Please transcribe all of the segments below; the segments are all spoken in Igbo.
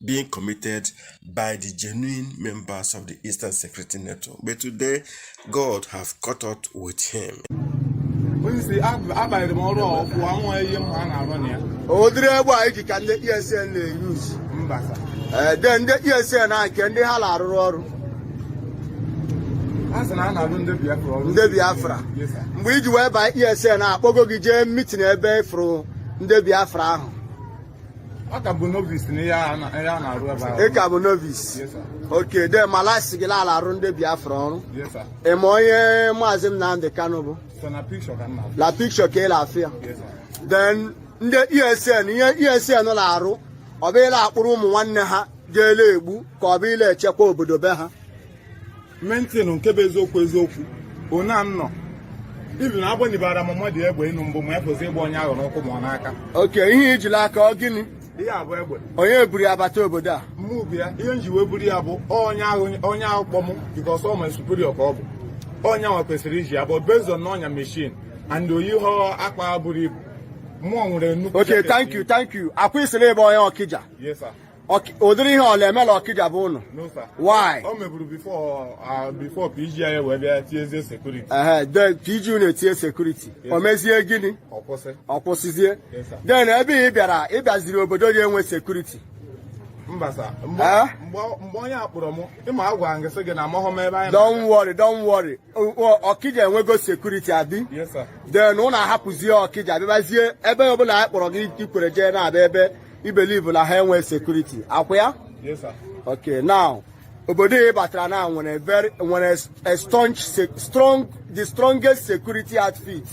being committed by the genuine members of the Eastern Security Network. But today, God have caught up with him. Ụdịrị egbe a i ji ka ndị ESN na-eyuz den ndị ESN a nke ndị ha na-arụrụ ọrụ ndị Biafra mgbe i ji wee baa ESN a kpọgo gị jee mitin ebe ị fụrụ ndị Biafra ahụ m ka bụ novice na ihe a na- ihe a na-arụ ebe ahụ. ị ka bụ novice Yes, sir. okay den mala a sị gị la a la-arụ ndị Biafra ọrụ Yes, sir. ị ma onye Maazị Nnamdi Kanu bụ Sọ na picture ka m na-afụ. la pikshọ ka ị la-afụ ya Yes, sir. then ndị ESN ihe ESN na-arụ ọ bụ ịla-akpụrụ ụmụ nwanne ha gaa la-egbu ka ọ bụ ịla-echekwa obodo be ha maintain nke bụ eziokwu eziokwu one anọ even agbanyebara m mmadụ egbe ịnụ mbụ ma ọ fọzie ịgba onye ahụ n'ụkwụ ma ọ n'aka okay ihe i ji l'aka ọ gịnị ihe a bụ egbe onye buru ya bata obodo a mụ bu ya ihe m ji wee buru ya bụ onye ahụ onye ahụ kpọ m because ọ my superior ka ọ bụ onye ahụ kwesịrị iji ya but based on na ọ nya machine and o yihọ akpa buru ibu mụ nwere nnukwu okay thank you thank you ọkwa ị sịrị ị bụ onye Okija yes sir ụdịrị ihe a ọ la-eme la Okija be ụnụ why o meburu before PG anyị wee bịa tiezie sekuriti PG unu etinye sekuriti o mezie gịnị ọ kwụsịzie den ebe ị bịara ị bịaziri obodo dị enwe sekuriti mba sa mgbe onye a kpọrọ m ịma agwa gị sị gị na amahụ m ebe anyị don't worry don't worry Okija enwego sekuriti abi den ụnụ ahapụzie Okija bịabazie ebe ọbụla onye kpọrọ gị i kwere jee na-abịa ebe i believe na ha enwe security ọkwa ya Yes, sir. okay now obodo ị batara na nwere very nwere a strong se- strong the strongest security outfit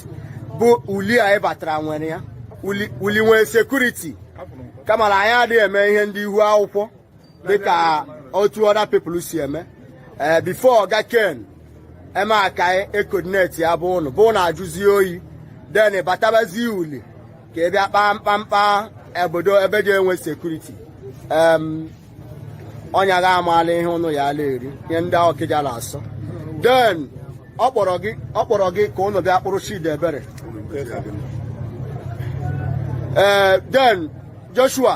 bụ Uli a ị batara nwere ya Uli Uli nwere security Afụrụ m. kama na anyị adịghị eme ihe ndị ihu akwụkwọ dịka otu other people si eme ee before Ọga Ken emee ka e coordinate ya be ụnụ be ụnụ ajụzie oyi den batabazi Uli ka ị bịa kpaa mkpamkpa obodo ebe dị enwe sekuriti ọnya ga-amaala ihe ụnụ ya a la-eri ihe ndị Okija na-asọ den ọ kpọrọ gị ka ụnụ bịa kpụrụ Chidiebere ee den Joshua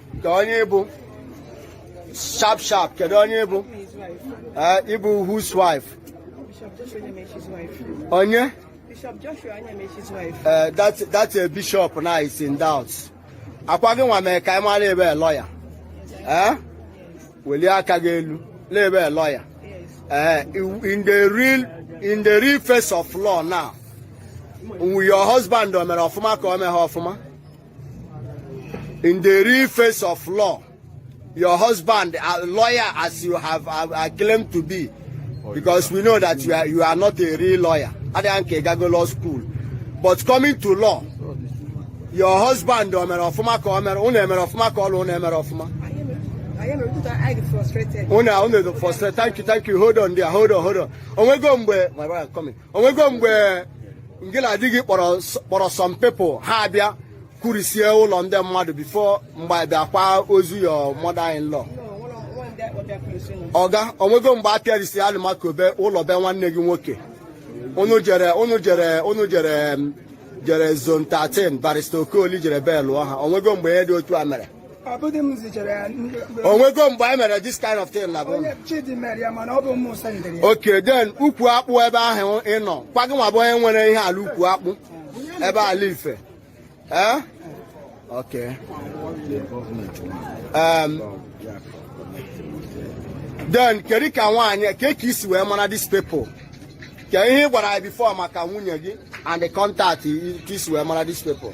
kee onye ị bụ sharp sharp kedu onye ị bụ eh, ị bụ whose wife onye Bishop Joshua Anyamechi's wife. Uh, that, that's a bishop now is in doubt. Ọkwa gị nwa mee ka ị mara ị bụ lọya. Eh? Welie aka gị elu na ị bụ lọya. Eh, in the real in the real face of law now. Your husband o mere ọfụma ka o meghị ọfụma. in the real face of law your husband a lawyer as you have uh, uh, claimed to be oh, because we know that you are, you are not a real lawyer adịghị nke gago law school but coming to law your husband o mere ọfụma ka o mere unu emere ọfụma ka ọlụ unu emere ọfụma unu unu frustrated thank you thank you hold on there hold on hold on onwego mgbe my brother coming onwego mgbe ngị la di gị kpọrọ some people ha abịa kurisie ụlọ ndị mmadụ before mgbe a bịa akwa ozu your mother in law oga onwego mgbe a pịarisi Alumaco be ụlọ be nwanne gị nwoke unu jere unu jere unu jere jere zone 13 barrister Okoli jere belụọ ha onwego mgbe ihe dị otu a mere onwego mgbe anyị mere this kind of thing na bụ okay then ukwu akpụ ebe ahụ ị nọ kwa gị nwa bụ onye nwere ihe ala ukwu akpụ ebe ala ife ee okay then kedu ka nwaanyị ka ka i si wee mara these people ka ihe ị gwara anyị before maka nwunye gị and the contact ka i si wee mara these people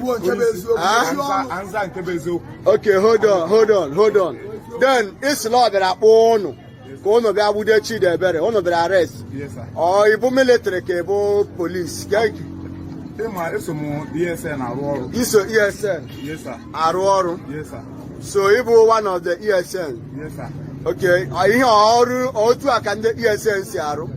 kwuo nke bụ eziokwu Ah? ndị ọnụ Answer- answer nke bụ eziokwu okay hold on hold on hold on then ị sị la ọ bịara kpọọ ụnụ ka ụnụ bịa gbude Chidiebere ụnụ bịara arrest Yes, sir. ọ ị bụ military ka ị bụ police ịma eso m ESN arụ ọrụ i so ESN Yes, sir. arụ ọrụ Yes, sir. so ị bụ one of the ESN Yes, sir. okay ọ- ihe ọrụ otu a ka ndị ESN si arụ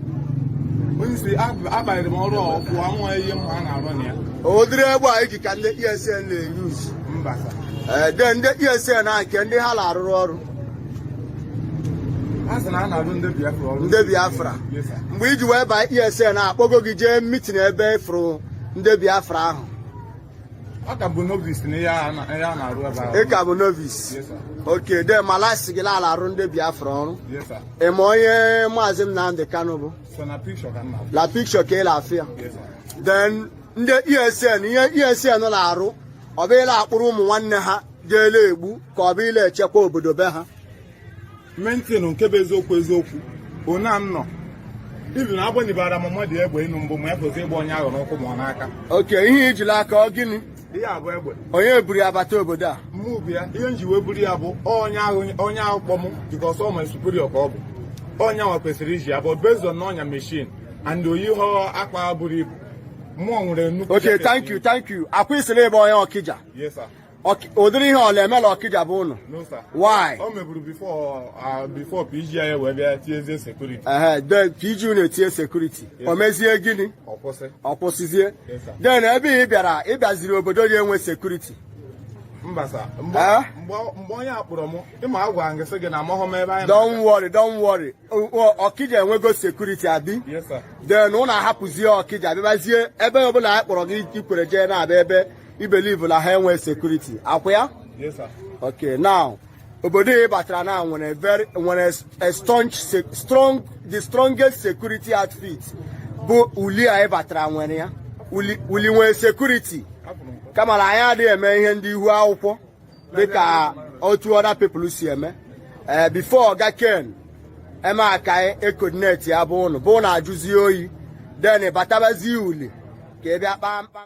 Onye isi ab- abanyere m ọrụ a ọkụ anwa ihe mma a na-arụ na ya. ụdịrị egbe a iji ka ndị ESN na-eyuz Mba sir. ee then ndị ESN a nke ndị ha na-arụrụ ọrụ A sị na a na-arụ ndị Biafra ọrụ. ndị Biafra Yes, sir. mgbe i ji wee baa ESN a a kpọgo gị jee meeting ebe ị fụrụ ndị Biafra ahụ Ọ ka bụ novice na ihe a na- ihe a na-arụ ebe ahụ. ị ka bụ novice Yes, sir. okay then mala a sị gị la a la-arụ ndị Biafra ọrụ Yes, sir. ị ma onye Maazị Nnamdị Kanụ bụ Sọ na picture ka m na-afụ. la picture ka ị la-afụ ya Yes, sir. then ndị ESN ihe ESN na-arụ ọ bụ ịla-akpụrụ ụmụ nwanne ha jee la-egbu ka ọ bụ ịla-echekwa obodo be ha mention nke bụ eziokwu eziokwu ona m nọ ibi na agbanyebara m mmadụ egbe ịnụ mbụ ma ya kwesịrị ịgba onye ahụ n'ụkwụ ma ọ n'aka okay ihe i ji la aka ọ gịnị ihe a bụ egbe onye buru ya bata obodo a mụ bụ ya ihe m ji wee buru ya bụ onye ahụ onye ahụ kpọ m because ọ my superior ka ọ bụ onye ahụ kwesịrị iji ya bụ based on ọ nya machine and o yihọ akpa buru ibu mụ nwere nnukwu okay thank you thank you ọ kwa ị sịrị ị bụ onye Ọkịja yes sir ụdịrị ihe ọ la-eme la Ọkịja bụ ụnụ why o meburu before PG anyị wee bịa tiezie security PG unu etinye security o mezie gịnị ọ kwụsịzie then ebe ị bịara ị bịaziri obodo ya enwe security mgbe onye akpọrọ m ịma agwa gị sị gị na amahụ m ebe anyị don't worry don't worry Ọkịja enwego security abi then ụnụ ahapụzie Ọkịja bịabazie ebe ọbụla anyị kpọrọ gị i kwere jee na-abịa ebe i believe na ha enwe security akwa ya Yes, sir. okay now obodo ị batara na nwere very nwere a strong se- strong the strongest security outfit bụ uli a ị batara nwere ya uli uli nwere security kama na anyị adịghị eme ihe ndị ihu akwụkwọ dịka otu other people si eme ee before oga ken emeakayi e-coordinate ya bụ ụnụ bụ na ajụzie oyi then batabazie uli ka ị bịa kpaa mkpa